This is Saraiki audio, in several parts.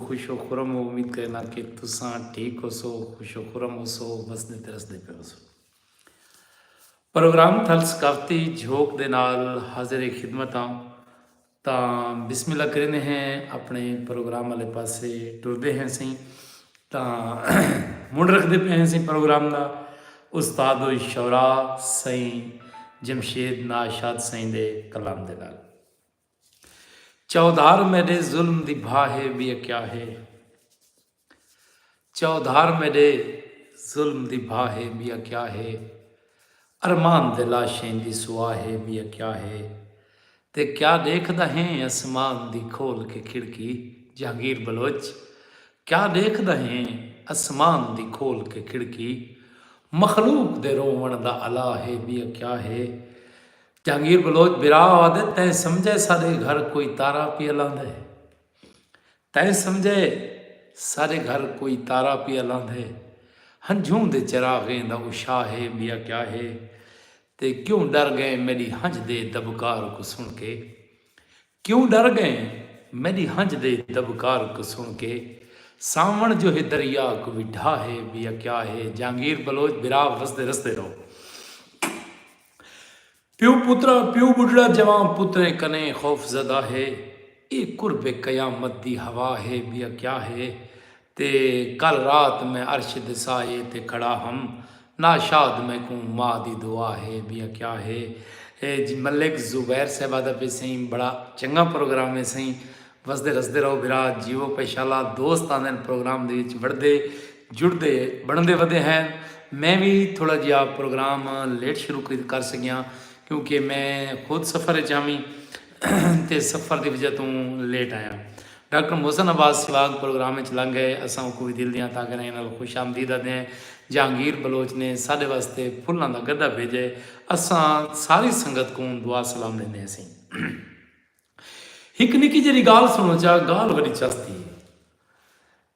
خوش و خرم ہو امید کرینا کہ تساں ٹھیک ہوسو خوش و خرم ہوسو وسدے تے رسدے پے ہوسو پروگرام تھل ثقافتی جھوک دے نال حاضر خدمت ہاں تاں بسم اللہ کریندے ہیں اپنے پروگرام والے پاسے ٹردے ہیں سیں تاں منڈ رکھدے پے ہیں سیں پروگرام دا استاد و شعرا سائیں جمشید ناشاد سائیں دے کلام دے نال چودھار میڈے ظلم دی بھا ہے بی کیا ہے چودھار میڈے ظلم دی بھا ہے بی کیا ہے ارمان دے لاشیں دی سوا ہے بی کیا ہے تے کیا دیکھ دا ہیں اسمان دی کھول کے کھڑکی جہانگیر بلوچ کیا دیکھ دا ہیں اسمان دی کھول کے کھڑکی مخلوق دے روون دا الا ہے بی کیا ہے جہانگیر بلوچ برا آدھے تیں سمجھے سارے گھر کوئی تارا پیا لاندھے تیں سمجھے سارے گھر کوئی تارا پیا لاندھے ہنجھوں دے چراغیں دا اشا ہے بیا کیا ہے تے کیوں ڈر گئے میری ہنج دے دبکار کو سن کے کیوں ڈر گئے میڈی ہنج دے دبکار کوں سن کے ساون جو ہے دریا کو وی ڈھا ہے بیا کیا ہے جہانگیر بلوچ براو رسدے رسدے رو پیو پترا پیو بڈھڑا جوان پتریں کنے خوف زدہ ہے اے قرب قیامت دی ہوا ہے بیا کیا ہے تے کل رات میں عرش دے سایے تے کھڑا ہم نا شاد میکوں ماء دی دعا ہے بھی آکھیا ہے جی ملک زبیر صاحب آدھا پی سائیں بڑا چنگا پروگرام ہے سائیں وسدے رسدے رہو بھرا جیو پیشالا دوست آندن پروگرام دے وچ وڑدے جڑدے بڑھندے ودے ہیں میں بھی تھوڑا جیا پروگرام لیٹ شروع کر سکیاں کیونکہ میں خود سفر چاہمی تے سفر دی وجہ توں لیٹ آیاں۔ ڈاکٹر محسن عباس سواڳ پروگرام اچ لنگھ ڳئے، اساں اوکوں وی دل دیاں تاکھیں نئیں نال خوش آمدید آدھیں۔ جہانگیر بلوچ نے ساݙے واسطے پھلاں دا گڈھا بھیڄئے۔ اساں ساری سنگت کوں دعا سلام ݙیندے ہسیں۔ ہک نکی جیڑھی ڳالھ سݨو چا ڳالھ وݙی چس دی اے۔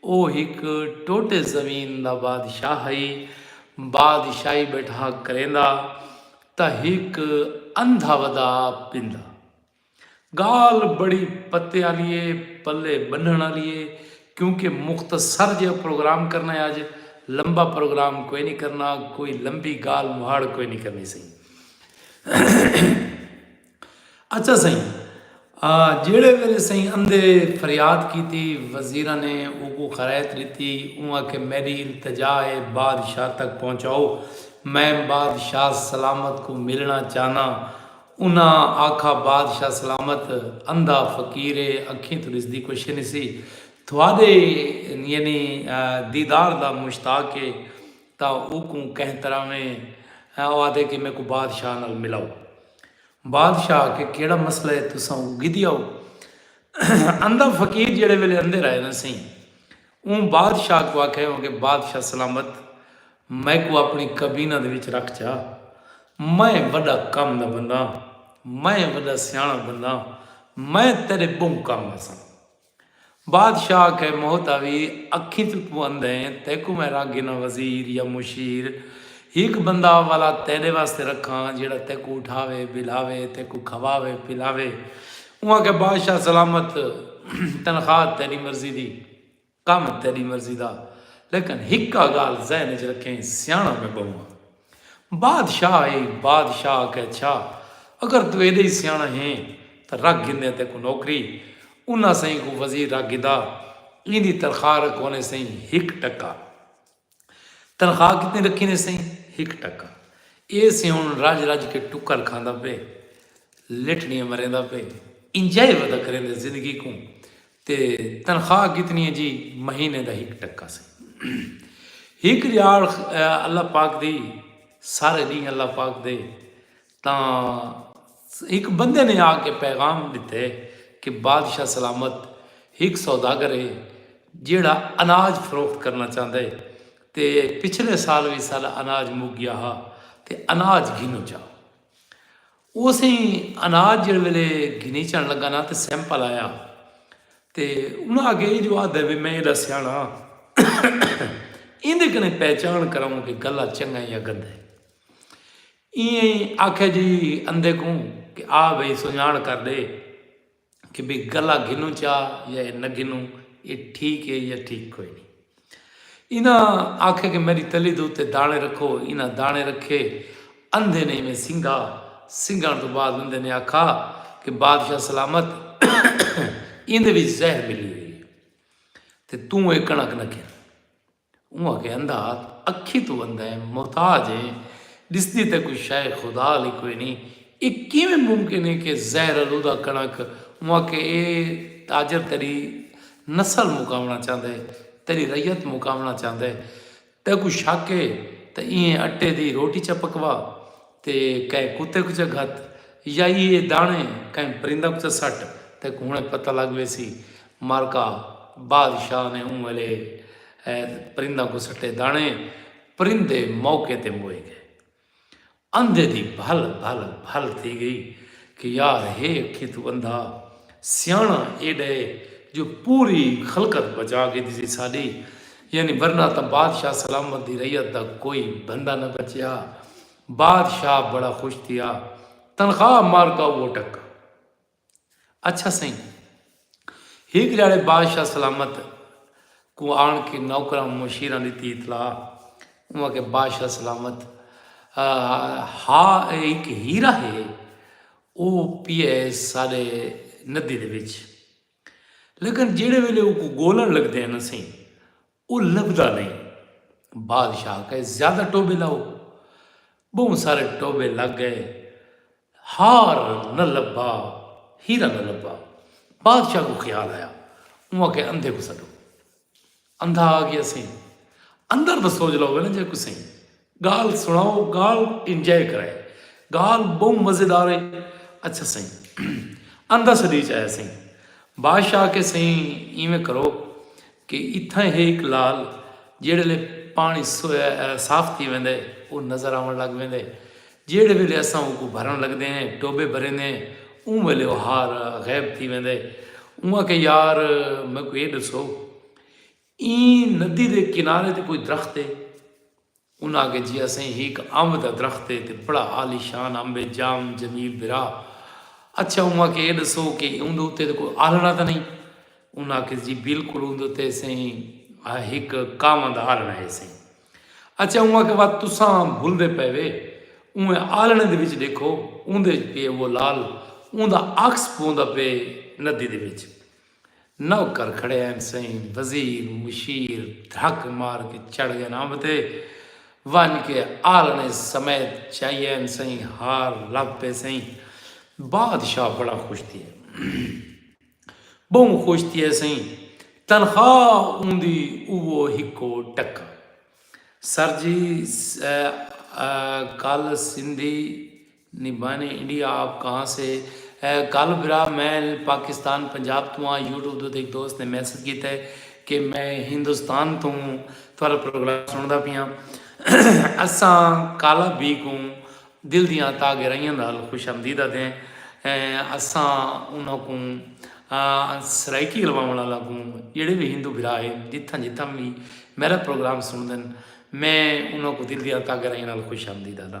او ہک ٹوٹے زمین دا بادشاہ ہئی۔ بادشاہی ٻیٹھا کریندا تاں ہک اندھا ودا پیندا۔ ڳالھ بڑی پتے آلی اے، پلے ٻنھݨ آلی اے کیونکہ مختصر جیہا پروگرام کرݨا اے اڄ، لمبا پروگرام کوئی نی کرݨا، کوئی لمبی ڳالھ مہاڑ کوئی نی کرݨی سئیں۔ اچھا سئیں جیڑھے ویلے سئیں اندے فریاد کیتی وزیراں نے اوکوں خرائط ڈتی اوں آکھیا میڈی التجا ہے بادشاہ تک پہنچاؤ میں بادشاہ سلامت کوں ملنڑاں چاہناں انہاں آکھا بادشاہ سلامت اندھا فقیر ہے اکھیں توں ڈسدی کوشے نسی تھوڈے یعنی دیدار دا مشتاق ہے تاں اوکوں کہہ تراویں او آدھے کہ میکوں بادشاہ نال ملاؤ۔ بادشاہ آکھے کیڑھا مسئلہ ہے تساں اونکوں گھدیا او۔ اندھا فقیر جیڑھے ویلے اندھے رائے نہ سئیں اوں بادشاہ کوں آکھے ہوں کہ بادشاہ سلامت میکوں اپنی کابینہ دے وچ رکھ چا میں وڈا کم دا بندہ ہاں میں وڈا سیاݨا بندہ ہاں میں تیڈے بہوں کم آساں۔ بادشاہ آکھے مہتاوی اکھیں توں کوں اندھیں تیکوں میں رکھ گھناں وزیر یا مشیر ہک بندہ ولا تیڈے واسطے رکھاں جیڑا تیکوں اٹھاوے بلاوے تیکوں کھواوے پلاوے اوں آکھے بادشاہ سلامت تنخواہ تیڈی مرضی دی کم تیڈی مرضی دا لیکن ہکا گال ذہن وچ رکھیں سیاݨا میں بہوں ہاں۔ بادشاہ ء بادشاہ آکھیا اچھا اگر توں ایڈا ہی سیاݨا ہیں تاں رکھ گھندیں تیکوں نوکری انہاں سئیں کوں وزیر رکھ گھدا ایندی تنخواہ رکھونے سئیں ہک ٹکا تنخواہ کتنی رکھینے سئیں ہک ٹکا اے سئیں ہن رج رج کے ٹکر کھاندا پئے لٹھڑیاں مریندا پئے انجائی ودا کریندے زندگی کوں تے تنخواہ کتنی ہے جی مہینے دا ہک ٹکا سی ہک جاڑ اللہ پاک دی سارے دین اللہ پاک دے تاں ہک بندے نے آ کے پیغام دیتے کہ بادشاہ سلامت ہک سوداگر ہے جیڑا اناج فروخت کرنا چاہتا ہے تے پچھلے سال بھی سارا اناج مک گیا ہا تے اناج گھنو چاہ اوسیں اناج جیڑھے ویلے گھنیچن لگا نا تے سیمپل آیا تے انہاں آکھیا اے جو آدھا وی میں ایڈا سیاݨا ایندے کنے پہچان کراؤں کہ گلا چنگا ہے یا گندا ہے ایں آکھیا جی اندے کوں کہ آ بھئی سنجان کر دے کہ بھئی گلہ گھنوں چا یا اے نہ گھنوں اے ٹھیک اے یا ٹھیک کوئی نی انہاں آکھیا کہ میڈی تلی دے اتے دانے رکھو انہاں دانے رکھے اندھے نے ایویں سنگھا سنگھن تو بعد اندھے نے آکھا کہ بادشاہ سلامت ایندے وچ زہر ملی ہوئی تے توں اے کنک نہ کھے اوں آکھیا اندھا اکھیں توں اندھا ہے، محتاج ہے، ݙسدی تاں کوئی شئے خدا آلی کوئی نھیں، اے کیویں ممکن ہے کہ زہر آلودہ کݨک؟ اوں آکھیا اے تاجر تیݙی نسل مکاوݨا چاہندا ہے، تیݙی رعیت مکاوݨا چاہندا ہے، تیکوں شک ہے تاں ایں اٹے دی روٹی چا پکوا تے کہیں کتے کوں چا گھت یا ایہے داݨے کہیں پرندہ کوں چا سٹ، تیکوں ہݨیں پتہ لڳ ویسی۔ مرکہ، بادشاہ نے اوں ویلے پرنداں کوں سٹے دانے پرندے موقع تے موئے گئے اندھے دی بھل بھل بھل تھی گئی کہ یار ہے کھت بندہ سیانا اے ڈے جو پوری خلقت بچا کے دی سی ساڈی یعنی ورنہ تا بادشاہ سلامت دی ریت دا کوئی بندہ نہ بچیا بادشاہ بڑا خوش تھیا تنخواہ مار کا وہ ٹکا اچھا سئیں! ہک جھاڑے بادشاہ سلامت کوں آن کے نوکراں مشیراں ݙتی اطلاع۔ اوں آکھیا بادشاہ سلامت ہا اے ہک ہیرا ہے او پیا ہے ساݙے ندی دے وچ لیکن جیڑھے ویلے اوکوں ڳولݨ لڳدے ہن اسیں او لبھدا نئیں۔ بادشاہ کئے زیادہ ٹوبے لاؤ۔ بہوں سارے ٹوبے لگ گئے۔ ہار نہ لبھا، ہیرا نہ لبھا۔ بادشاہ کو خیال آیا۔ اوں آکھیا اندھے کو سڈو۔ اندھا آ گیا سئیں۔ اندر دا سوج لو ویلے جے کو سئیں۔ گالھ سنڑاؤ گالھ انجوائے کرائے گالھ بہوں مزیدار ہے اچھا سائیں اندھا سدی چ آیا سائیں بادشاہ آکھے سائیں ایویں کرو کہ اتھاں ہے ایک لال جیڑے لے پانی صاف تھی ویندے او نظر آون لگ ویندے جیڑے ویلے اساں اوکو بھرن لگدے ہیں ٹوبے بھریندے ہیں اون ویلے او ہار غیب تھی ویندے اون آکھے یار میکو اے دسو ایں ندی دے کنارے تے کوئی درخت ہے؟ انہاں آکھیا جی اساں ہیک امب دا درخت ہے تے بڑا عالی شان امب ہے جام جمیل بھرا اچھا اوں آکھیا اے ڈسو کہ اوں دے اتے تے کوئی آلھنڑا تاں نئیں انہاں آکھیا جی بالکل اوں دے اتے سئیں ہیک کانواں دا آلھنڑا ہے سئیں اچھا اوں آکھیا وا تساں بھلدے پئے وے اوں آلھنڑے دے وچ ڈیکھو اوں دے وچ پئے وہ لال اوں دا عکس پوندا پئے ندی دے وچ۔ نوکر کھڑے ہن سئیں وزیر مشیر دھک مار کے چڑھ گئن امب تے ونج کے آلنے سمیت چائی ہن سئیں ہار لگ پے سئیں بادشاہ بڑا خوش تھیے بہوں خوش تھیے سئیں تنخواہ اوندی اوو ہکو ٹکا سر جی کل سندھی نی بھائی نے انڈیا آپ کہاں سے ہے گل برا میں پاکستان پنجاب توں ہاں یوٹیوب دو تے ہک دوست نے میسج کیتا ہے کہ میں ہندوستان توں تہاڈا پروگرام سنڑدا پیاں اساں کالا بی کوں دل دیاں تاہ گہرائیاں نال خوش آمدید آدھے ہیں اساں انہاں کوں سرائیکی رواونڑ آلاں کوں جیڑھے وی ہندو بھرا ہے جتھاں جتھاں وی میڈا پروگرام سنڑدن میں انہاں کوں دل دیاں تاہ گہرائیاں نال خوش آمدید آدھاں۔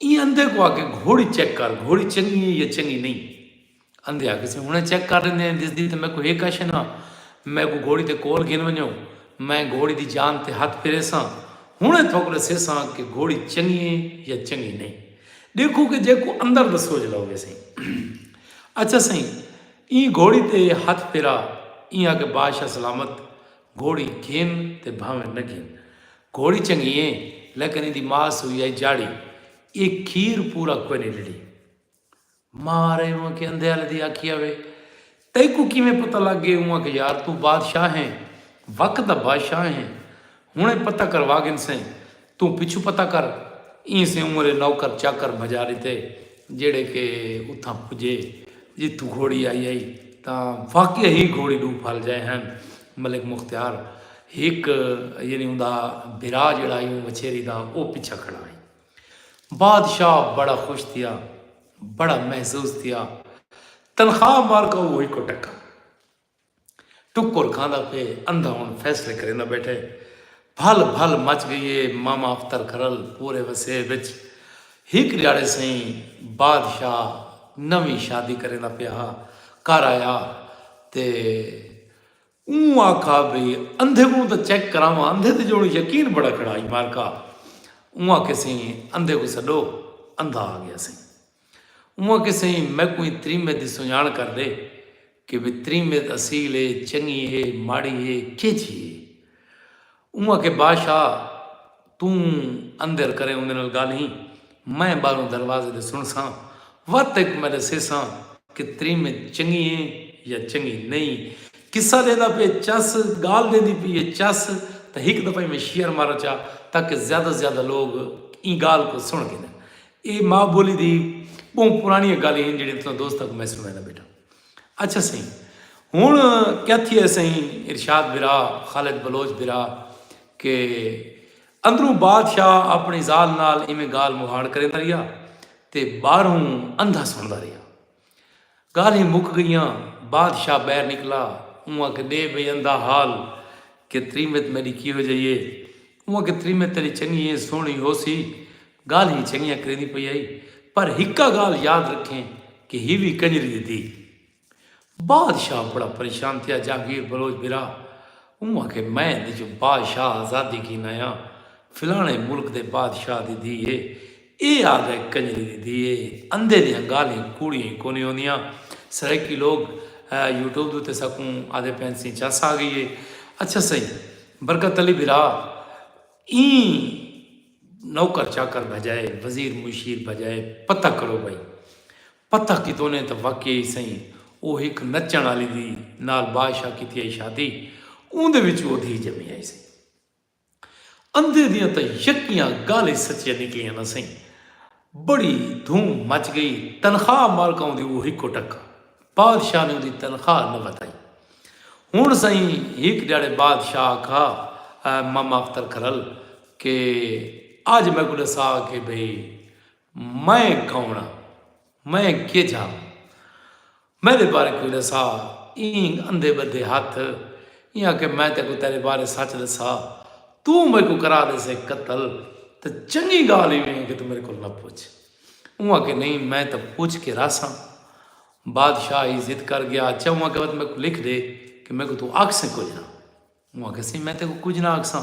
ایں اندھے کوں آکھے گھوڑی چیک کر گھوڑی چنگی ہے یا چنگی نہیں اندھے آکھے سے ہنے چیک کر لیندے ہیں دسدی تے میکوں ہک آشے نا میکوں گھوڑی تے کول گھن ونجو میں گھوڑی دی جان تے ہتھ پھیریساں ہنے تھوک ڈسیساں کہ گھوڑی چنگی ہے یا چنگی نہیں ڈیکھو کہ جے کو اندر دسو جلو گے سیں اچھا سیں ایں گھوڑی تے ہتھ پھیرا ایں آکھے بادشاہ سلامت گھوڑی گھن تے بھانویں نہ گھن۔ گھوڑی چنگی اے لیکن ایندی ماء سوئی آئی جاڑی اے کھیر پورا کوئے نی ڈیڈی۔ ماء آرے اونکھ اندھے آلے دی آکھیا وے تیکوں کیویں پتہ لگ گئے اونکھ یار توں بادشاہ ہیں وقت دا بادشاہ ہیں ہنڑے پتہ کروا گھنسیں توں پچھوں پتہ کر۔ ایں سے عمر اے نوکر چاکر بھجا ݙتے جیڑھے کہ اتھاں پجے جتھوں گھوڑی آئی ہئی تاں واقعی ہی گھوڑی ݙو پھل جئے ہن۔ ملک مختیار ہک یعنی اوندا بھرا جیڑھا ہئی اوں وچھیری دا او پچھا کھڑا ہئی۔ بادشاہ بڑا خوش تھیا بڑا محظوظ تھیا تنخواہ مارکا اوہی کو ٹکا۔ ٹکر کھاندا پئے اندھا ہن فیصلے کریندا بیٹھے بھل بھل مچ گئی اے ماما اختر کرل پورے وسیب وچ ہک ڈیاڑے سئیں بادشاہ نویں شادی کریندا پیا ہا گھر آیا تے اوں آکھا بھئی اندھے کوں تاں چیک کراواں اندھے تے جیوں یقین بڑا کھڑا ہئی مارکا اوں آکھے سئیں اندھے کوں سڈو اندھا آ گیا سئیں۔ اوہ آکھے سئیں میکوں ایں تریمت دی سنڄاݨ کر ݙے کہ وی تریمت اصیل اے، چنڳی اے، ماڑی اے، کیجھی اے؟ اوہ آکھے بادشاہ توں اندر کریں اوندے نال ڳالھیں، میں ٻاہروں دروازے دے سݨساں، وت ہک میں ݙسیساں کہ تریمت چنڳی اے یا چنڳی نئیں۔ قصہ ݙیندا پئے چس، ڳالھ ݙیندی پئی اے چس تاں ہک دفعہ ایویں شیئر مار چا تاکہ زیادہ زیادہ لوک ایں ڳالھ کوں سݨ گھنن۔ اے ماء بولی دی بہوں پرانیاں گالیں ہن جیڑھیاں تساں دوستاں کوں میں سنڑایندا بیٹھاں۔ اچھا سئیں ہن کیا تھیا سئیں ارشاد بھرا، خالد بلوچ بھرا کہ اندروں بادشاہ اپنڑی ذال نال ایویں گال مہاڑ کریندا رہیا تے باہروں اندھا سنڑدا رہیا۔ ڳالھیں مک ڳئیاں۔ بادشاہ ٻاہر نکلا۔ اوں آکھے ݙے بھئی اندا حال کہ تریمت میݙی کیہو جئی اے۔ اوں آکھے تریمت تیݙی چنڳی اے سوہݨی ہوسی۔ ڳالھیں چنڳیاں کریندی پئی ہئی پر ہکا ڳالھ یاد رکھیں کہ ہی وی کنڄری دی دھی۔ بادشاہ بڑا پریشان تھیا جہانگیر بلوچ بھرا۔ اوں آکھے میں اندیجوں بادشاہ آزادی گھن آیاں۔ فلاݨے ملک دے بادشاہ دی دھی اے۔ اے آگئے کنجری دی دھی اے اندھے دیاں گالھیں کوڑیاں ای کونی ہوندیاں سرائیکی لوگ یوٹیوب دے اتے ساکوں آدھے پئن سئیں چس آ گئی اے اچھا سئیں برکت علی بھرا ایں نوکر چاکر بھجائے وزیر مشیر بھجائے پتہ کرو بھئی پتہ کیتونے تاں واقعی سئیں او ہک نچن آلی دی نال بادشاہ کیتی آئی شادی اوندے وچ او دھی جمی آئی سئیں اندھے دیاں تاں یکیاں گالھیں سچیاں نکلیاں نہ سئیں۔ بڑی دھوم مچ گئی۔ تنخواہ مالکاؤں دی او ہکو ٹکا۔ بادشاہ نے اوندی تنخواہ نہ ودھائی۔ ہن سئیں ہک ڈھیاڑے بادشاہ آکھا ماماختر کھرل کہ اج میکوں ڈسا کہ بھئی میں کون ہاں۔ میں کیجھا ہاں۔ میڈے بارے کوئی ڈسا اینگ اندھے بدھے ہتھ ایں آکھے میں تیکوں تیڈے بارے سچ دسا توں میکوں کرا دیسے قتل تے چنگی گال ایویں ہے کہ تو میرے کول نہ پوچھ اوں آکھے نہیں میں تو پوچھ کے راساں بادشاہ ہی ضد کر گیا اچھا اوں آکھے میں کو لکھ دے کہ میکوں تو آکھ سے کچھ نہ اوں آکھے سی میں تیکوں کچھ نہ آکھ ساں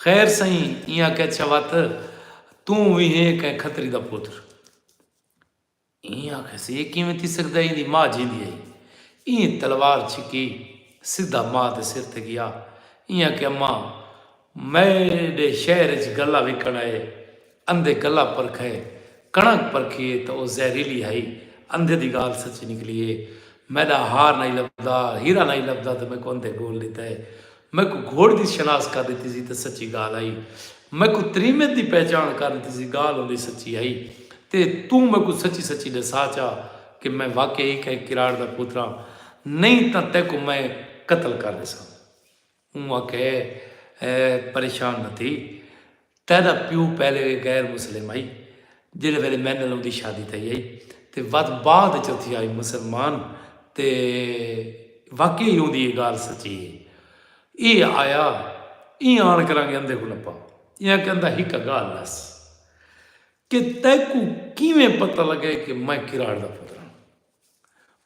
خیر سہی ایں آکھے اچھا وت توں وی ہے کہ کھتری دا پتر ایں آکھیس اے کیویں تھی سگدا ایں دی ماء جیندی ہئی ایں تلوار چھکی سدھا ماء دے سر تے گیا ایں آکھیا اماں میڈے شہر اچ گلا وکن آئے اندھے گلا پرکھے کݨک پرکھی اے تاں او زہریلی ہئی اندھے دی گالھ سچی نکلی اے میڈا ہار نائی لبھدا ہیرا نائی لبھدا تاں میکوں اندھے گول ڈتا اے میکوں گھوڑ دی شناس کر ݙتی سی تے سچی ڳالھ ہئی۔ میکوں تریمت دی پہچاݨ کر ݙتی سی ڳالھ اوندی سچی ہئی۔ تے توں میکوں سچی سچی ݙسا چا کہ میں واقعی ہی کہیں کراڑ دا پوتراں۔ نئیں تاں تیکوں میں قتل کر ݙیساں۔ اوں آکھیا اے پریشان نہ تھی۔ تیڈا پیو پہلے وی غیر مسلم ہئی جیڑھے ویلے میڈے نال اوندی شادی تھئی ہئی تے ود بعد اچ او تھیا ہئی مسلمان تے واقعی ہی اوندی اے گالھ سچی ہئی۔ اے آیا ایں آن کرانگے اندھے کوں نپا ایاں کہ اندھا ہک گالھ ڈس کہ تیکوں کیویں پتہ لگے کہ میں کراڑ دا پتر ہاں۔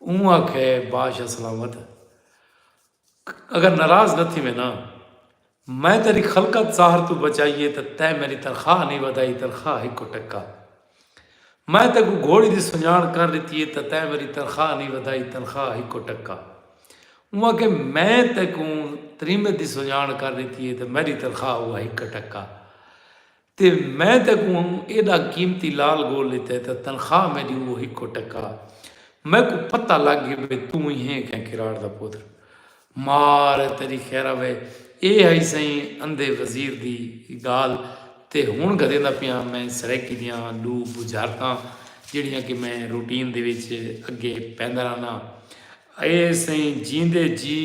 اوں آکھے بادشاہ سلامت اگر ناراض نہ تھیویں نا میں تیری خلقت زہر توں بچائی اے تاں تیں میڈی تنخواہ نئیں ودھائی تنخواہ ہکو ٹکا میں تیکوں گھوڑی دی سنجاݨ کر ݙتی اے تاں تیں میڈی تنخواہ نئیں ودھائی تنخواہ ہکو ٹکا اوں آکھے میں تیکوں تریمت دی سنجاݨ کر ݙتی اے تاں میڈی تنخواہ ہوا ہک ٹکا تے میں تیکوں ایڈا قیمتی لال گول ڈتا ہے تاں تنخواہ میڈی اوہو ہکو ٹکا ہ میکوں پتہ لگ گی بھئی توں ای ہیں کہیں کراڑ دا پتر مار ہ تیڈی خیرہوے اے ہئی سئیں اندھے وزیر دی گال تے ہن گھدیندا پیاں میں سرائیکی دیاں ڈو بجھارتاں جیڈیاں کہ میں روٹین دے وچ اگے پیندا رہنا اے سئیں جیندے جی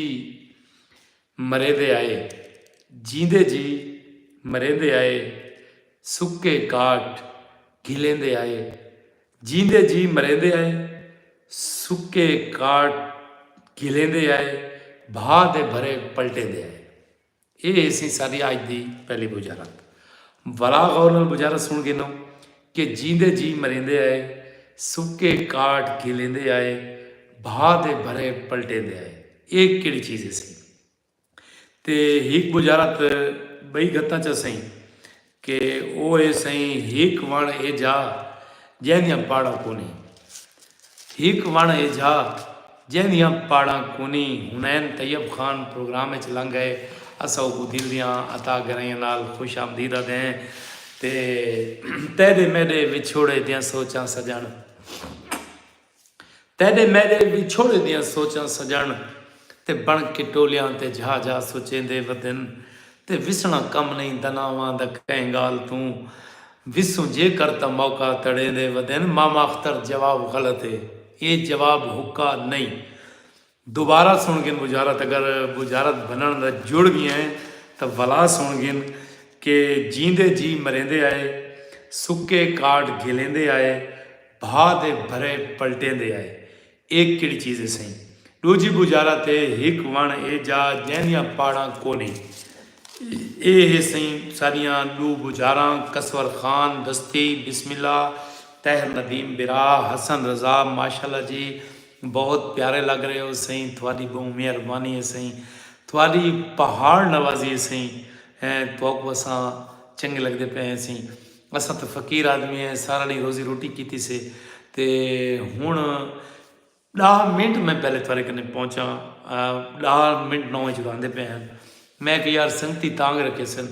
مریندے آئے جیندے جی مریندے آئے سکے گاٹ گھلیندے آئے جیندے جی مریندے آئے سکے گاٹ گھلیندے آئے بھا دے بھرے پلٹیندے آئے اے ایسی ساری آج دی پہلی بجارت ولا غور نال بجارت سن گے نو کہ جیندے جی مریندے آئے۔ سکے کاٹ گھلیندے آئے۔ بھا دے بھرے پلٹیندے آئے۔ اے کیڑھی چیز ہسی۔ تے ہک بجارت بئی گھتاں چا سئیں۔ کہ او اے سئیں ہک وݨ اے جا جیندیاں پاڑاں کونہیں۔ ہک وݨ اے جا جیندیاں پاڑاں کونی حنین طیب خان پروگرام اچ لنگ ائے اساں اوکوں دل دیاں عطا گرائیاں نال خوش آمدید آدھیں تے تیڈے میڈے وچھوڑے دیاں سوچاں سجݨ تیڈے میڈے وچھوڑے دیاں سوچاں سجݨ تے بݨ کے ٹولیاں تے جھا جھا سوچیندے ودن تے وسݨا کم نئیں دناواں دا کہیں گال توں وسوں جے کر تاں موقع تڑیندے ودین مامااختر جواب غلط اے اے جواب حقا نئیں دوبارہ سن گن وزارت اگر وزارت بنن دا جڑ وی ہیں تاں ولا سن گن کہ جیندے جی مریندے آئے سکے کارڈ گھلیندے آئے بھا دے بھرے پلٹیندے آئے اے کیڑھی چیز اے سئیں۔ ڈوجھی گوجارا تے ہک وݨ اے جا جیندیاں پاڑاں کونی۔ اے ہے سئیں ساڈیاں ڈو گوجاراں کسور خان دستی بسم اللہ طاہر ندیم برا حسن رضا ماشاءاللہ جی بہت پیارے لگ رہے ہو سئیں تھوڈی بہوں مہربانی اے سئیں تھوڈی پہاڑ نوازی اے سئیں تھوکوں اساں چنگے لگدے پئے ہیں سئیں۔ اساں تاں فقیر آدمی ہیں سارا ڈینہہ روزی روٹی کیتی سے تے ہن ڈاہ منٹ میں پہلے تھارے کنے پہنچا ڈاہ منٹ نو وچ آندے پے ہن میں کہ یار سنگتی تانگ رکھے سن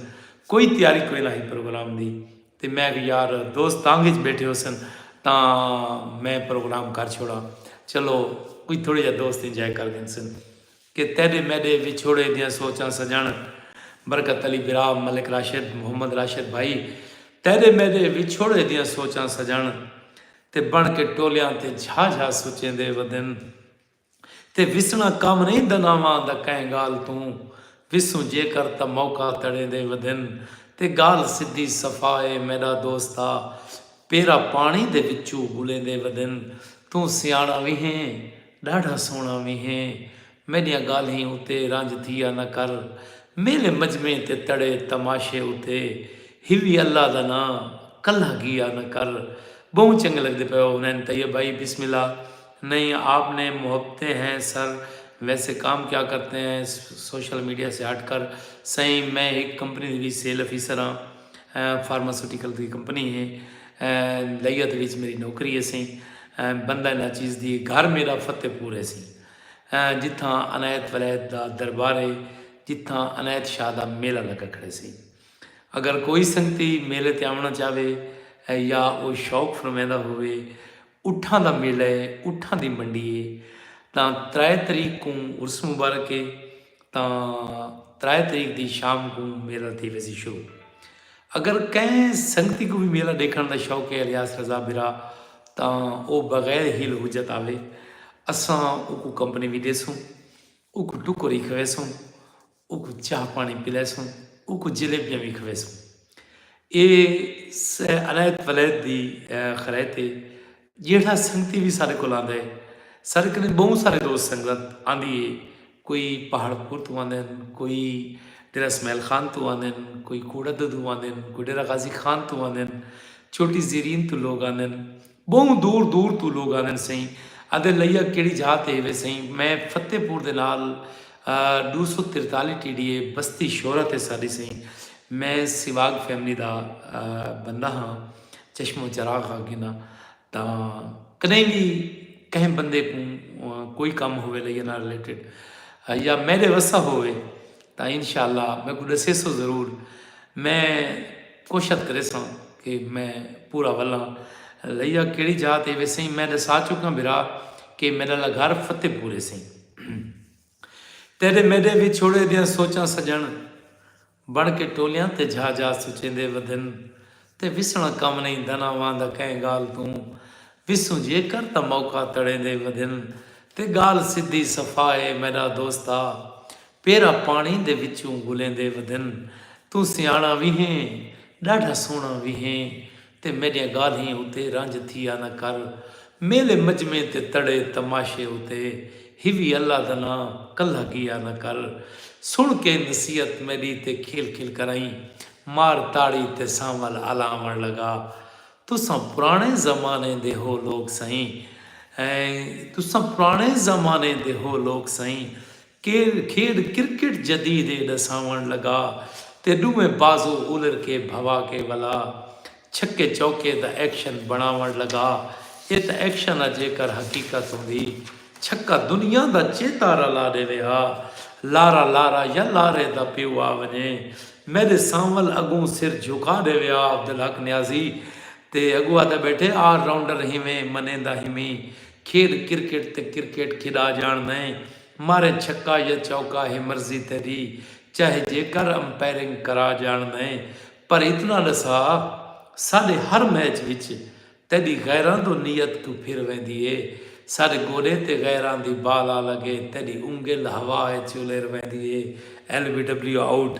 کوئی تیاری کوئی نہ ہی پروگرام دی تے میں کہ یار دوست تانگ وچ بیٹھے ہو سن تاں میں پروگرام کر چھوڑا چلو کوئی تھوڑے جا دوست انجوائے کر گن سن کہ تیݙے میݙے وچھوڑے دیاں سوچاں سڄݨ برکت علی برا ملک راشد محمد راشد بھائی تیݙے میݙے وچھوڑے دیاں سوچاں سڄݨ تے بݨ کے ٹولیاں تے جھا جھا سچیندے ودن تے وسݨا کم نئیں دناواں دا کئیں ڳالھ توں وسوں جیکر تاں موقع تڑیندے ودن تے ڳالھ سدھی صفا اے میݙا دوستا پیرا پاݨی دے وچوں ٻلیندے ودن، توں سیاݨا وی ہیں، ݙاڈھا سوہݨا وی ہیں، میݙیاں ڳالھیں اتے رنج تھیا نہ کر، میلے مجمعیں تے تڑے تماشے اتے ہیوی اللہ دا ناں کلھا گیا نہ کر، ٻہوں چنڳے لڳدے پئے ہو حنین طیب بھائی بسم اللہ نہیں آپ نے محبتیں ہیں سر ویسے کام کیا کرتے ہیں سوشل میڈیا سے ہٹ کر سئیں میں ہک کمپنی دی وچ سیل افیسر ہاں۔ فارماسیوٹیکل دی کمپنی ہے۔ لیا دے وچ میری نوکری ہیسی۔ بندہ ناچیز دی گھر میرا فتح پور ہیسی۔ جتھاں عنایت ولایت دا دربار ہے۔ جتھاں عنایت شاہ دا میلہ لگا کھڑے سی۔ اگر کوئی سنگتی میلے تے آونا چاہوے یا او شوق فرمیدہ ہووے اٹھاں دا میلہ ہے اٹھاں دی منڈی ہے تاں ترائے تریک کوں عرس مبارک ہے تاں ترائے تریخ دی شام کوں میلہ تھی ویسی شروع۔ اگر کہیں سنگتی کوں وی میلہ ڈیکھنڑ دا شوق ہے الیاس رضا بھرا تاں او بغیر حیل حجت آوے اساں اوکوں کمپنی وی ڈیسوں اوکوں ٹکر ای کھویسوں اوکوں چاہ پانی پلیسوں اوکوں جلیبیاں وی کھویسوں اے سہ الائد ولائد دی خرائط ہے۔ جیہڑا سنگتی وی ساڈے کول آندا ہے۔ ساڈے کنے بہوں سارے دوست سنگت آندی ہے۔ کوئی پہاڑ پور توں آندے ہن، کوئی ڈیرہ اسماعیل خان توں آندے ہن، کوئی کوڑا ددو آندے ہن، کوئی ڈیرہ غازی خان توں آندے ہن، چوٹی زیرین توں لوگ آندے ہن، بہوں دور دور توں لوگ آندے ہن سئیں۔ آندے لئیا کیڑی جا تے ہیوے سئیں۔ میں فتح پور دے نال ڈو سو ترتالی T D A Basti Shora تے ساڈی سئیں۔ میں سیواگ فیملی دا بندہ ہاں۔ چشم و چراغ ہا گھنا تاں کدیں وی کہیں بندے کوں کوئی کم ہوے لئی نال ریلیٹڈ یا میرے وسا ہوے تاں انشاءاللہ میں کو دسے سو ضرور میں کوشش کرے سو کہ میں پورا ولاں لیا کیڑی جا تے وے سیں میں دسا چکا بھرا کہ میرا لا گھر فتح پورے سیں تیرے میرے وچھوڑے دیاں سوچاں سجن بݨ کے ٹولیاں تے جھا جھا سچیندے ودھن تے وسݨا کم نئیں دھنا واں دا کہیں ڳالھ توں وسوں جیکر تاں موقع تڑیندے ودھن تے ڳالھ سدھی صفا اے میݙا دوستا پیرا پاݨی دے وچوں گھلیندے ودھن توں سیاݨا وی ہیں ݙاڈھا سوہݨا وی ہیں تے میݙیاں ڳالھیں اتے رنج تھیا نہ کر میلے مجمعیں تے تڑے تماشے اتے ہیوی اللہ دا ناں کلھا گیا نہ کر سݨ کے نصیحت میݙی تے کھیل کھیل کرائیں مار تاڑی تے سانول الاوݨ لڳا تساں پراݨے زمانے دے ہو لوک سئیں تساں پراݨے زمانے دے ہو لوک سئیں کھیڈ کرکٹ جدید اے ڈساونڑ لگا تے ڈوہیں بازو الر کے بھوا کے ولا چھکے چوکے دا ایکشن بنڑاونڑ لگا اے تاں ایکشن ا جیکر حقیقت ہوندی چھکا دنیا دا چیتا رلا ڈیوے ہا لارا لارا یا لارے دا پیو آ ونجے میڈے سانول اگوں سر جھکا ڈیوے ہا عبدالحق نیازی تے اگوں آدھے بیٹھے آل راؤنڈر ہیویں منیندا ہیویں کھیڈ کرکٹ تے کرکٹ کھیڈا جاݨ نئیں مارے چھکا یا چوکا ہے مرضی تیڈی چاہے جیکر امپائرنگ کرا جاݨ نئیں پر اتنا ڈسا ساڈے ہر میچ وچ تیڈی غیراں دو نیت کوں پھر ویندی ہے ساڈے گوڈے تے غیراں دی بال آ لگے تیڈی انگل ہوا اچ الیر ویندی ہے L B W out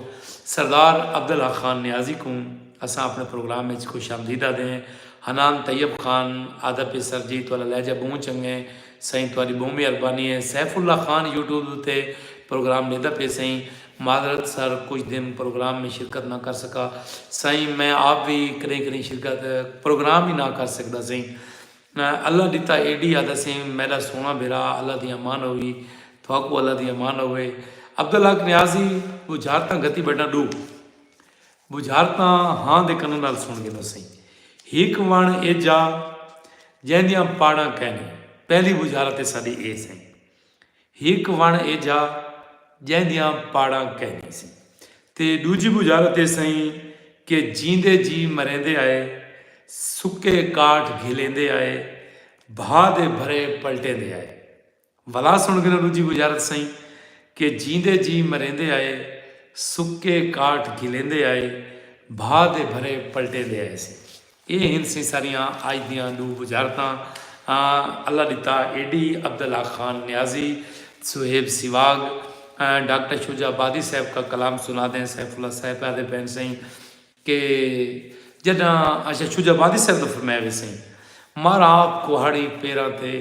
Sardar Abdullah Khan Niazi کوں اساں اپݨے پروگرام اچ خوش آمدید آدھے ہیں۔ حنان طیب خان آہدا پی سر جی تہاڈا لہجہ بہوں چنگے سئیں تہاڈی بہوں مہربانی ہے سیف اللہ خان یوٹیوب اتے پروگرام ڈیندا پئے سئیں معذرت سر کچھ دن پروگرام میں شرکت نہ کر سکا سئیں میں آپ وی کڈہیں کڈہیں شرکت پروگرام ہی نہ کر سکدا سئیں اللہ ڈتا اے ڈی آہدا سئیں میڈا سوہنا بھرا اللہ دی امان ہووی تہاکوں اللہ دی امان ہووے عبدالحق نیازی بجھارتاں گھتی بیٹھاں ڈو بجھار تاں ہاں دے کناں نال سݨ گھنو سئیں۔ ہک وݨ اے جا جیندیاں پاڑاں کائنی۔ پہلی بجھار تے ساݙی اے سئیں۔ ہک وݨ اے جا جیندیاں پاڑاں کائنی سئیں۔ تے ݙوجھی بجھار تے سئیں کہ جیندے جی مریندے آئے سکے کاٹھ گھلیندے آئے بھا دے بھرے پلٹیندے آئے۔ ولا سݨ گھناں ݙوجھی بجارت سئیں کہ جیندے جی مریندے آئے سکے کاٹھ گھلیندے آئے بھا دے بھرے پلٹیندے آئے سی اے ہن سئیں ساریاں اج دیاں ݙو بجارتاں اللہ ݙتا ایڈی عبداللہ خان نیازی صہیب سیواگ ڈاکٹر شجاع آبادی صاحب کا کلام سنا دیں سیف اللہ صاحب آدھے پین سئیں کہ جڈاں اچھا شجاع آبادی صاحب دا فرمایا وی سئیں مار آپ کوہاڑی پیراں تے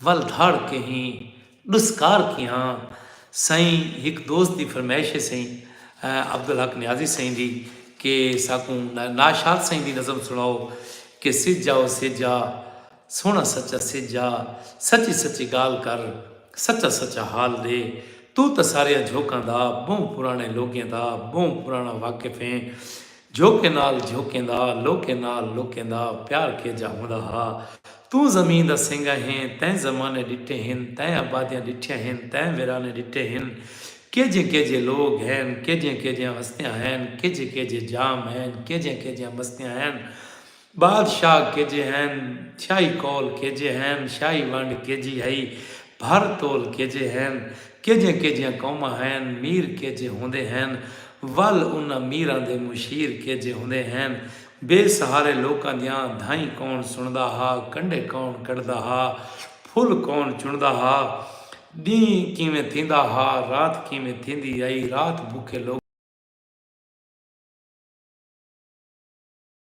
ول دھاڑ کہیں ڈسکار کیہاں سئیں ہک دوست دی فرمائش ہے سئیں عبدالحق نیازی سئیں دی کہ ساکوں ناشاد سئیں دی نظم سنڑاؤ کہ سجھ آ او سجھ آ سوہنڑا سچا سجھ آ سچی سچی گالھ کر سچا سچا حال ڈے توں تاں ساریاں جھوکاں دا بہوں پرانے لوگیں دا بہوں پرانا واقف ہیں جھوکیں نال جھوکیں دا، لوکیں نال لوکیں دا پیار کیجھا ہوندا ہا۔ توں زمین دا سینگا ہیں، تیں زمانے ݙٹھے ہن، تیں آبادیاں ݙٹھیاں ہن، تیں ویرانے ݙٹھے ہن۔ کیجھے کیجھے لوک ہین، کیجھیاں کیجھیاں ہستیاں ہین، کیجھے کیجھے جام ہین، کیجھیاں کیجھیاں مستیاں ہین۔ بادشاہ کیجے ہین چھائی قول کیجے ہین شاہی ونڈ کیجی ہئی بھر تول کیجے ہین کیجیاں کیجیاں قوماں ہین میر کیجے ہوندے ہین ول انہاں میراں دے مشیر کیجے ہوندے ہین بے سہارے لوکاں دیاں دھائیں کون سنڑدا ہا کنڈے کون کڈھدا ہا پھل کون چنڑدا ہا ڈینہہ کیویں تھیندا ہا رات کیویں تھیندی ہئی رات بکھے لوکاں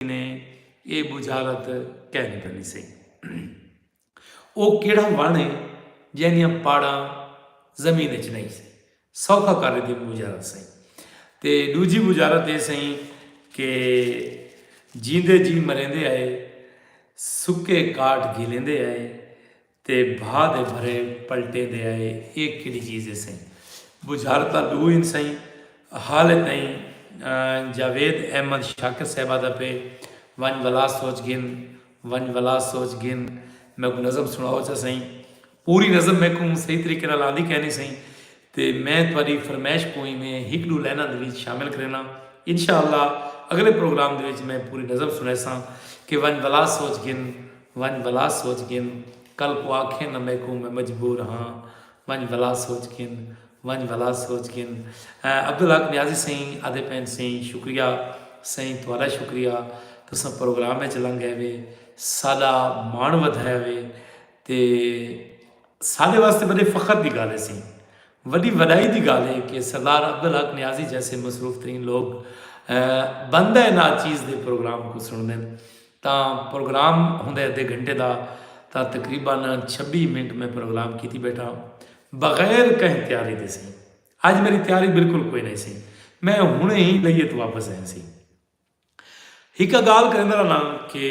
نے اے بجھارت کہن کرنی سی او کیڑا وان ہے جہدیاں پاڑاں زمین اچ نہیں سی سوکھا کر دی بجھارت سی تے دوجی بجھارت اے سی کہ جیندے جی مریندے آئے سکے کاٹ گھلیندے آئے تے بھاہ دے بھرے پلٹیں دے آئے اے کیڑی چیز ہے سئیں بجھر تاں ڈو ہن سئیں حالے تئیں جاوید احمد شاکر صاحب آدھا پے ونج ولا سوچ گھن ونج ولا سوچ گھن میکو نظم سناؤ چا سئیں پوری نظم میکو صحیح طریقے نال آندی کینی سئیں تے میں تہاݙی فرمائش کوں ایویں ہک ݙو لائناں دے وچ شامل کرینداں۔ انشاء اللہ اڳلے پروگرام دے وچ میں پوری نظم سݨیساں کہ ونڄ بھلا سوچ گھن، ونڄ بھلا سوچ گھن کل کوں آکھیں نہ میکوں میں مجبور ہاں ونڄ بھلا سوچ گھن، ونڄ بھلا سوچ گھن عبدالحق نیازی سئیں آہدے پئن سئیں شکریہ سئیں تہاݙا شکریہ تساں پروگرام وچ لنگھ آئیوے ساݙا ماݨ ودھایا وے تے ساڈے واسطے وڈے فخر دی گالھ ہسی۔ وڈی وڈائی دی گالھ ہے کہ سردار عبدالحق نیازی جیسے مصروف ترین لوگ بندہ ناچیز دے پروگرام کوں سنڑدن تاں پروگرام ہوندے ادھے گھنٹے دا تاں تقریبا چھبی منٹ میں پروگرام کیتی بیٹھاں بغیر کہیں تیاری دے سی اج میری تیاری بالکل کوئی نہ سی میں ہنڑے ہی لئی ات واپس آئیں سی ہک گالھ کریندا رہناں کہ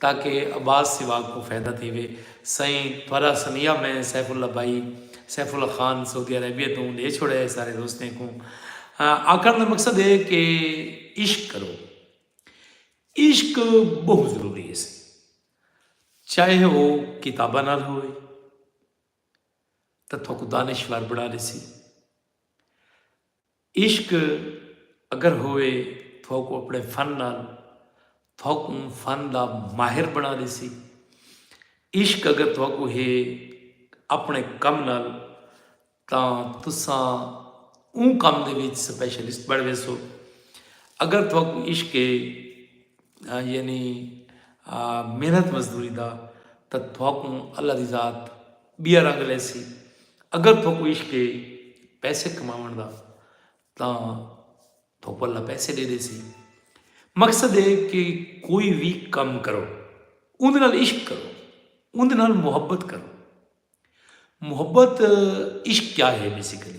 تاکہ عباس سوا کوں فیدہ تھیوے۔ سئیں تھوارا سنیہا میں سیف اللہ بھائی سیف اللہ خان سعودی عربیہ توں ڈے چھوڑیا ہے سارے دوستیں کوں۔ آکھن دا مقصد ہے کہ عشق کرو۔ عشق بہوں ضروری ہے سی۔ چاہے او کتاباں نال ہوئے تاں تھوکو دانشور بنا لیسی۔ عشق اگر ہووے تہاکوں اپݨے فن نال تہاکوں فن دا ماہر بݨا ݙیسی۔ عشق اگر تہاکوں ہے اپݨے کم نال تاں تساں اوں کم دے وچ سپیشلسٹ بݨ ویسو۔ اگر تہاکوں عشق ہے یعنی محنت مزدوری دا تاں تہاکوں اللہ دی ذات ٻیا رنگ لیسی اگر تھوکوں عشق ہے پیسے کماون دا تاں تھوکوں اللہ پیسے دے دے سی مقصد ہے کہ کوئی بھی کم کرو اندر نال عشق کرو اندر نال محبت کرو محبت عشق کیا ہے بیسیکلی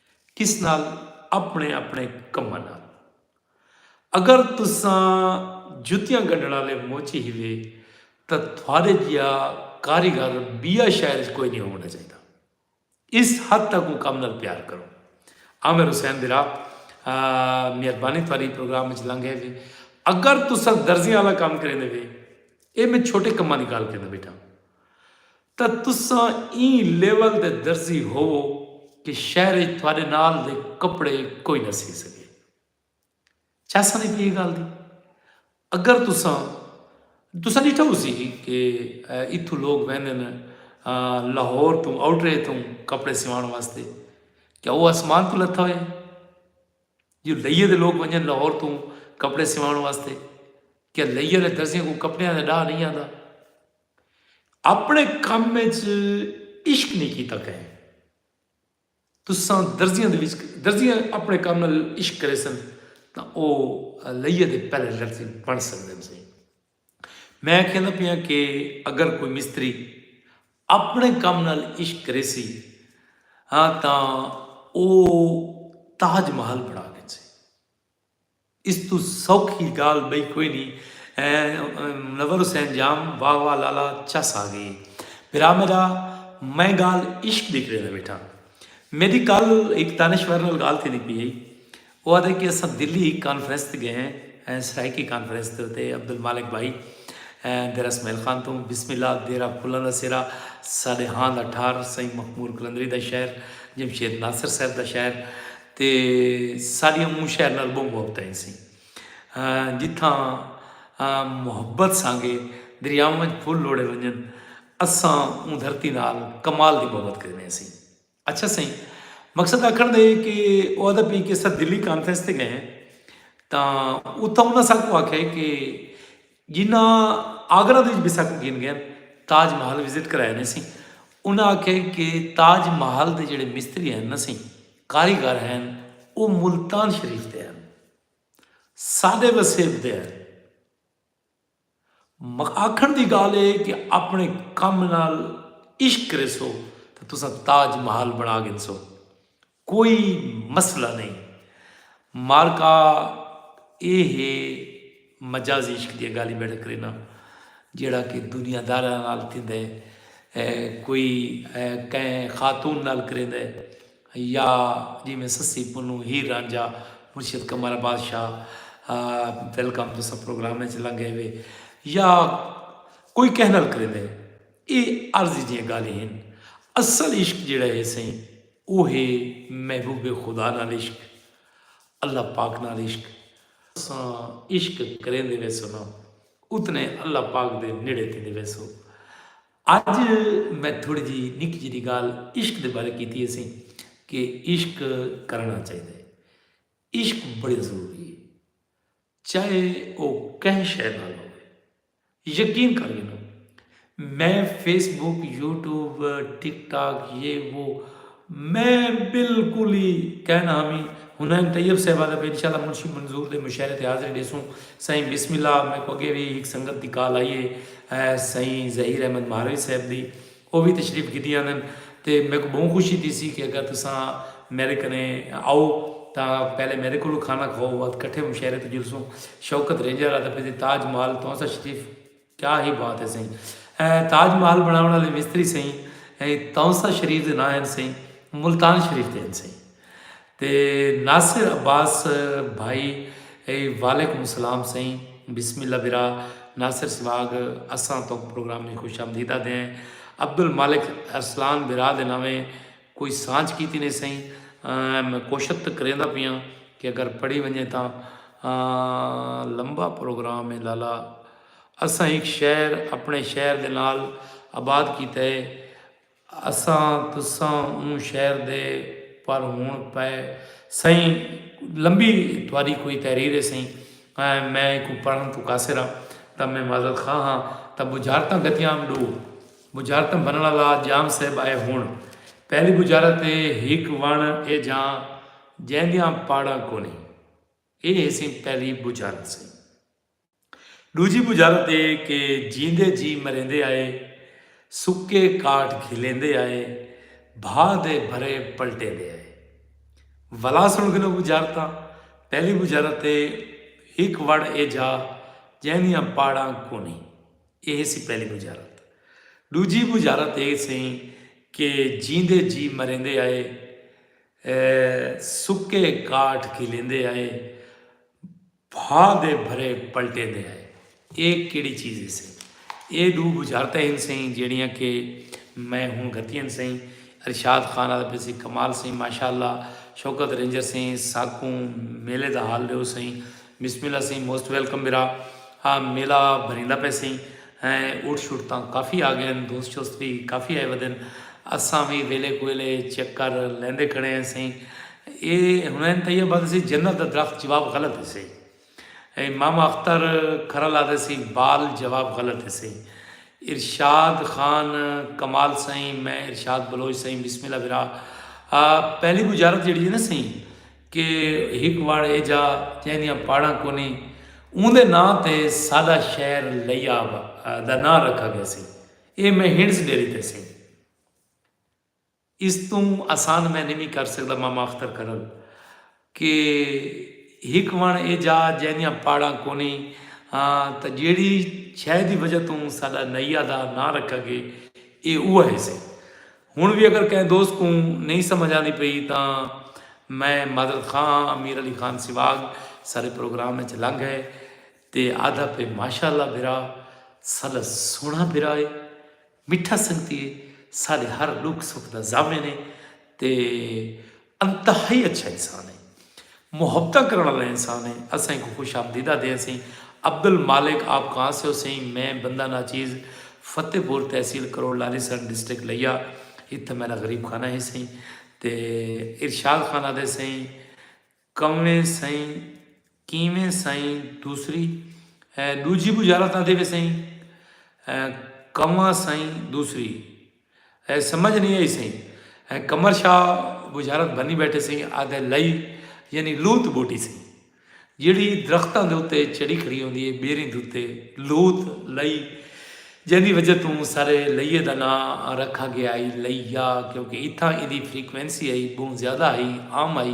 کس نال؟ اپݨے اپݨے کماں نال۔ اگر تساں جتیاں گنڈھݨ آلے موچی ہیوے تاں تھوڑے جیا کاریگر بیا شہر اچ کوئی نی ہووݨا چاہیدا۔ اس حد تک اوں کم نال پیار کرو۔ عامر حسین برا مہربانی تھوڑی پروگرام اچ لنگ ہے وے۔ اگر تساں درزیاں آلا کم کریندے وے اے میں چھوٹے کماں دی گال کریندے بیٹھاں۔ تاں تساں ایں لیول دے درزی ہووو کہ شہر اچ تہاڈے نال دے کپڑے کوئی نہ سی سگے۔ چاساں دی پئی اے گالھ دی۔ اگر تساں تساں ڈیٹھا ہوسی کہ اتھوں لوگ ویندن لاہور توں آؤٹرے توں کپڑے سیوان واسطے کیا او آسمان توں لتھا ہویا اے؟ جو لئیے دے لوگ ونجن لاہور توں کپڑے سیوان واسطے کیا لئیے دے درزیاں کوں کپڑیاں دا ڈاہ نہیں آندا؟ اپݨے کم وچ عشق نی کیتا کہیں تساں درزیاں دے وچ درزیاں اپݨے کم نال عشق کریسن تاں او لئیہ دے پہلے درزی بݨ سکدن سئیں میں آکھیندا پیاں کہ اگر کوئی مستری اپݨے کم نال عشق کریسی ہاں تاں او تاج محل بݨا گھنسے اس توں سوکھی گالھ بئی کوئی نی منور حسین جام واہ واہ لالا چس آگئی اے بھرا میڈا میں گالھ عشق دی کریدا بیٹھاں میڈی کل ہک دانشور نال گالھ تھیندی پئی ہئی او آدھے کہ اساں دلی ہک کانفرنس تے گئے ہیں سرائیکی کانفرنس تے اتے عبدالمالک بھائی دیرہ سمیل خان توں بسم اللہ دیرہ پھلاں دا سیرہ ساڈے ہاں دا ٹھار سائیں مخمور قلندری دا شہر جمشید ناصر صاحب دا شہر تے ساݙیاں مونہہ شہر نال ٻہوں محبتاں ہیسیں جتھاں محبت سانگے دریاواں وچ پھل لوڑھے ونڄن اساں اوں دھرتی نال کمال دی محبت کریندے ہیسیں۔ اچھا سئیں مقصد آکھݨ دا ہے کہ او آہدا پئی کہ اساں دلی کانفرنس تے ڳئے ہیں تاں اتھاں انہاں ساکوں آکھیا کہ جنہاں آگرہ دے وچ وی سک گھن گئن تاج محل وزٹ کرایا نے سی انہاں آکھیا کہ تاج محل دے جڑے مستری ہن نے سی کاریگر ہن او ملتان شریف دے ہن ساڈے وسیب دے ہن آکھن دی گال اے کہ اپنے کم نال عشق کریسو تے تساں تاج محل بنا گھنسو۔ کوئی مسئلہ نئیں۔ معرکہ اے ہے مجازی عشق دیاں گالھیں بیٹھا کرینا جیڑھا کہ دنیا داراں نال تھیندا ہے کوئی کہیں خاتون نال کریندا ہے یا جیویں سسی پنوں ہیر رانجھا مرشد قمر عباس شاہ ویلکم ٹو سب پروگرام وچ لنگ گئے ہوئے یا کوئی کہیں نال کریندا ہے اے عارضی جیاں گالھیں ہن اصل عشق جیڑھا ہے سئیں او ہے محبوب خدا نال عشق اللہ پاک نال عشق۔ اساں عشق کریندے ویسوں نہ اتنے اللہ پاک دے نیڑے تھیندے ویسوں۔ اج میں تھوڑی جی نکی جیڈی گال عشق دے بارے کیتی ہے سی کہ عشق کرنا چاہیے۔ عشق بڑے ضروری ہے۔ چاہے او کہیں شئے نال ہووے۔ یقین کر گھنو میں Facebook YouTube TikTok یہ وہ میں بالکل ہی کہنا ہامی ہنین طیب صاحب آدھے پہ انشاءاللہ منشی منظور دے مشاعرے تے حاضری ڈیسوں سائیں بسم اللہ میکو اگے وی ہک سنگت دی کال آئی ہے سائیں ظہیر احمد مہاروی صاحب دی او وی تشریف گھدی آندن تے میکوں بہوں خوشی تھیسی کہ اگر تساں میڈے کنے آؤ تاں پہلے میڈے کولوں کھانا کھاؤ بعد کٹھے مشاعرے تے جلسوں۔ شوکت رینجر آدھے پئے سی تاج محل تہاں سا شریف کیا ہی بات ہے سئیں اے تاج محل بناون آلے مستری سئیں تہاں سا شریف دے نہ ہن سئیں ملتان شریف دے ہن سئیں تے ناصر عباس بھائی ای وعلیکم السلام سئیں بسم اللہ برا ناصر سواگ اساں توک پروگرام میں خوش آمدید آدھے ہیں عبدالمالک ارسلان برا دے ناویں کوئی سانچ کیتی نے سئیں میں کوشت تے کریندا پیاں کہ اگر پڑھی ونجے تاں لمبا پروگرام ہے لالا اساں ہک شہر اپنے شہر دے نال آباد کیتا ہے اساں تساں اوں شہر دے پر ہن پئے سئیں لمبی تہاڈی کوئی تحریر ہے سئیں میں ایکوں پڑھن توں قاصر ہاں تاں میں معذرت خواہ ہاں تاں بجھارتاں گھتیام ڈو بجھارتاں بھنڑ آلا جام صاحب آئے ہن پہلی بجھارت ہے ہک ونڑ اے جاں جیندیاں پاڑاں کونہیں اے ہے سئیں پہلی بجھارت سئیں۔ ݙوجھی ٻجھارت اے کہ جیندے جی مریندے آئے، سکے کاٹ گھلیندے آئے، بھا دے بھرے پلٹیندے آئے۔ ولا سݨ گھنو ٻجھارتاں، پہلی ٻجھارت اے ہک وڑ اے جا جیندیاں پاڑاں کونی، اے ہیسی پہلی ٻجھارت۔ ݙوجھی ٻجھارت اے سئیں کہ جیندے جی مریندے آئے، سکے کاٹ گھلیندے آئے، بھاں دے بھرے پلٹیندے آئے۔ اے کیڑھی چیز ہیسی؟ اے ڈو بجھارتاں ہن سئیں جیڑھیاں کہ میں ہن گھتیاں سئیں۔ ارشاد خان آدھا پئے سی کمال سئیں ماشاء اللہ شوکت رینجر سئیں ساکوں میلے دا حال ڈیو سئیں۔ بسم اللہ سئیں موسٹ ویلکم برا۔ ہاں میلہ بھریندا پئے سئیں۔ ہیں اٹھ شٹ تاں کافی آ گئن دوست شوست وی کافی آئے ودن اساں وی ویلے کویلے چکر لیندے کھڑے ہیں سئیں اے حنین طیب آدھے سی جنت دا درخت جواب غلط ہے سئیں اے ماما اختر کھرل آدھے سی بال جواب غلط ہے سئیں ارشاد خان کمال سئیں میں ارشاد بلوچ سئیں بسم اللہ برا پہلی بجارت جیڑی ہے نا سئیں کہ ہک وڑ ایجھا جیں دیاں پاڑاں کونی اوندے ناں تے ساڈا شہر لیا دا ناں رکھا گیسی اے میں ہنڑس ڈیری تے سیں اس توں آسان میں نی وی کر سکدا ماما اختر کرل کہ ہک وڑ ایجھا جیں دیاں پاڑاں کونی تاں جیڑھی شے دی وجہ توں ساڈا نیا دا ناں رکھا گے اے اوہا ہیسی ہن وی اگر کہیں دوست کوں نئیں سمجھ آندی پئی تاں میں معذرت خواہ ہاں، امیر علی خان سیواگ سارے پروگرام اچ لنگ ہے تے آدھا پئے ماشاء اللہ بھرا ساڈا سوہنڑا بھرا ہے مٹھا سنگتی ہے ساڈے ہر ڈکھ سکھ دا ضامن ہے تے انتہائی اچھا انسان ہے۔ محبتاں کرݨ آلا انسان ہے۔ اساں اینکوں خوش آمدید آہدے ہسیں۔ عبدالمالک آپ کہاں سے ہو سئیں؟ میں بندہ ناچیز فتح پور تحصیل کروڑ لالی سن ڈسٹرکٹ لیا اتھاں میݙا غریب خانہ ہے سئیں۔ تے ارشاد خان آہدے سئیں کونیں سئیں؟ کیویں سئیں دوسری اے ݙوجھی ٻجھارت نہ تھیوے سئیں اے کواں سئیں دوسری اے سمجھ نئیں آئی سئیں اے قمر شاہ ٻجھارت بھنی ٻیٹھے سئیں آہدے لئی یعنی لوت ٻوٹی سئیں جیڑھی درختاں دے اتے چڑھی کھڑی ہوندی اے ٻیریں دے اتے لوت لئی جیندی وجہ توں سارے لئیے دا ناں رکھا گیا ہئی لئیا کیونکہ اتھاں ایندی فریکوینسی ہئی ٻہوں زیادہ ہئی عام ہئی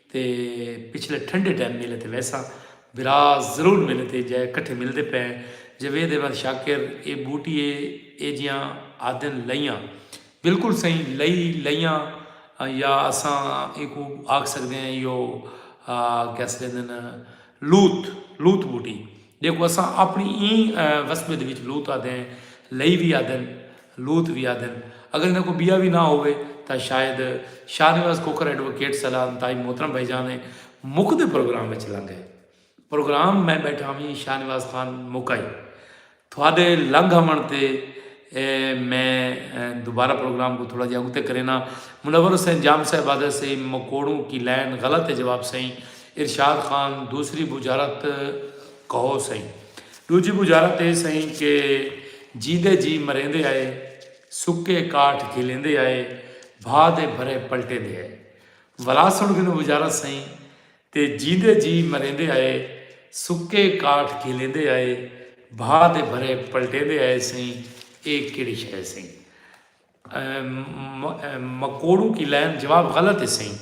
تے پچھلے ٹھنڈے ٹائم میلے تے ویساں بھرا ضرور میلے تے جائے کٹھے ملدے پئے ہیں جاوید احمد شاکر اے بوٹی اے اے جیاں آدھن لئیاں بالکل سئیں لئی لئیاں یا اساں ایکو آکھ سکدے ہیں یو کیسے لیندن لوط، لوط ٻوٹی، جیکوں اساں اپݨی ایں وسبے دے وچ لوط آہدے ہیں، لئی وی آہدے ہن، لوط وی آہدے ہن، اگر ایندے کوئی ٻیا وی نہ ہووے تاں شاید شاہ نواز کھوکھر ایڈووکیٹ صلی اللہ انتہائی محترم بھائی جان ہیں، مکدے پروگرام وچ لنگھے۔ پروگرام میں ٻیٹھا ہوویں شاہ نواز خان مکائی۔ تہاڈے لنگھ آونڑ تے میں دوبارہ پروگرام کوں تھوڑا جیہا اگتے کرینا۔ منور حسین جام صاحب آدھے سئیں مکوڑوں کی لائن غلط ہے جواب سئیں ارشاد خان دوسری بجھارت کہو سئیں ڈوجھی بجھارت اے سئیں کہ جیندے جی مریندے آئے سکے کاٹھ گھلیندے آئے بھا دے بھرے پلٹیندے آئے ولا سنڑ گھنو بجھارت سئیں تے جیندے جی مریندے آئے سکے کاٹھ گھلیندے آئے بھا دے بھرے پلٹیندے آئے سئیں اے کیڑی شئے سئیں مکوڑوں کی لائن جواب غلط ہے سئیں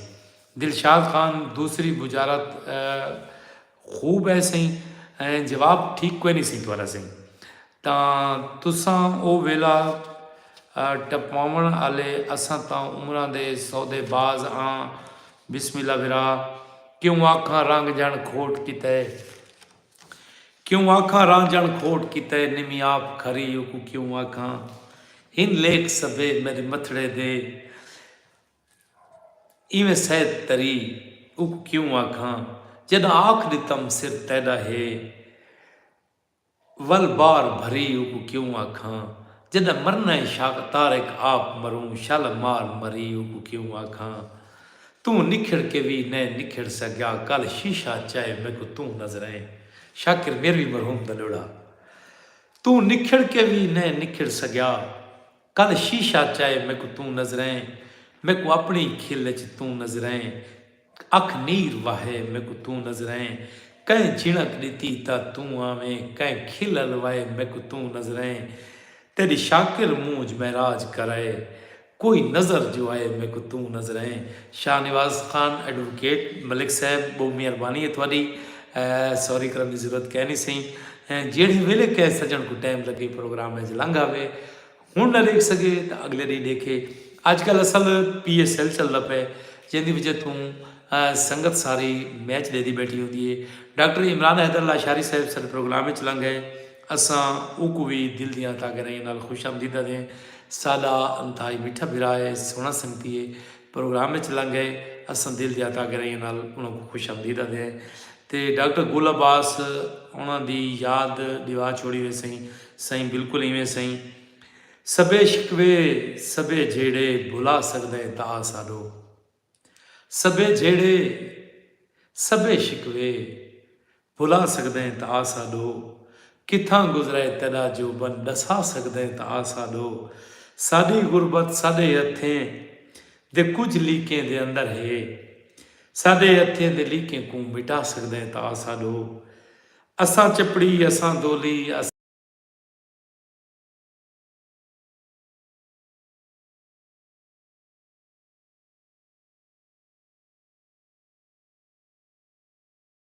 دلشاد خان دوسری بجارت خوب ہے سئیں جواب ٹھیک کوئی نہیں سئیں تھوڑا سئیں تاں تساں او ویلا ٹپاون آلے اساں تاں عمراں دے سودے باز آں بسم اللہ بھرا کیوں آکھاں رنگ جݨ کھوٹ کیتے کیوں آکھاں رنگ جݨ کھوٹ کیتے نمی آپ کھری اوکوں کیوں آکھاں ہن لیکھ سبھے میݙے متھڑے دے ایویں سید تری اوکوں کیوں آکھاں جݙاں آکھ ݙتم سر تیݙا ہے ول بار بھری اوکوں کیوں آکھاں جڈاں مرنا اے شاق طارق آپ مروں شل مار مری اوکوں کیوں آکھاں توں نکھڑ کے وی نئیں نکھڑ سگیا کل شیشہ چائے میکوں توں نظریں شاکر میروی مرحوم دا لوڑھا توں نکھڑ کے وی نئیں نکھڑ سگیا کل شیشہ چائے میکوں توں نظریں میکوں اپنڑی کھل اچ توں نظریں اکھ نیر وہے میکوں توں نظریں کئیں جھنڑک ڈتی تاں توں آویں کئیں کھل الوائے میکوں توں نظریں تیڈی شاکر مونجھ معراج کرائے کوئی نظر جو آئے میکوں توں نظریں۔ شاہ نواز خان ایڈووکیٹ ملک صاحب بہوں مہربانی ہے تہاڈی سوری کرݨ دی ضرورت کائنی سئیں ہیں جیڑھے ویلے کہہ سجݨ کوں ٹائم لگے پروگرام اچ لنگھ آوے ہݨ نہ ݙیکھ سڳے تاں اڳلے ݙینہہ ݙیکھے اڄ کل اصل پی ایس ایل چلدا پئے جیندی وجہ توں سنگت ساری میچ ݙیدی بیٹھی ہوندی ہے ڈاکٹر عمران حیدر لاشاری صاحب ساڈے پروگرام اچ لنگھ آئے اساں اوکوں وی دل دیاں تاگرائیاں نال خوش آمدید آدھیں ساڈا انتہائی میٹھا بھرا ہے سوہݨا سنگتی ہے پروگرام اچ لنگ گئے اساں دل دیاں تاگرائیاں نال انہاں کوں خوش آمدید آدھے ہیں تے ڈاکٹر گل عباس انہاں دی یاد ڈیوا چھوڑی وے سئیں سائیں بالکل ایویں سائیں سبھے شکوے سبھے جھیڑے بھلا سکدا ہے تا ساڈو سبھے جھیڑے سبھے شکوے بھلا سگدیں تاں آسا ڈو۔ کتھاں گزرئے تیڈا جو بن ڈسا سگدیں تاں آسا ڈو۔ ساڈی غربت ساڈے ہتھیں دے کجھ لیکیں دے اندر ہے۔ ساڈے ہتھیں دے لیکیں کوں مٹا سگدیں تاں آسا ڈو۔ اساں چپڑی اساں دولی اساں۔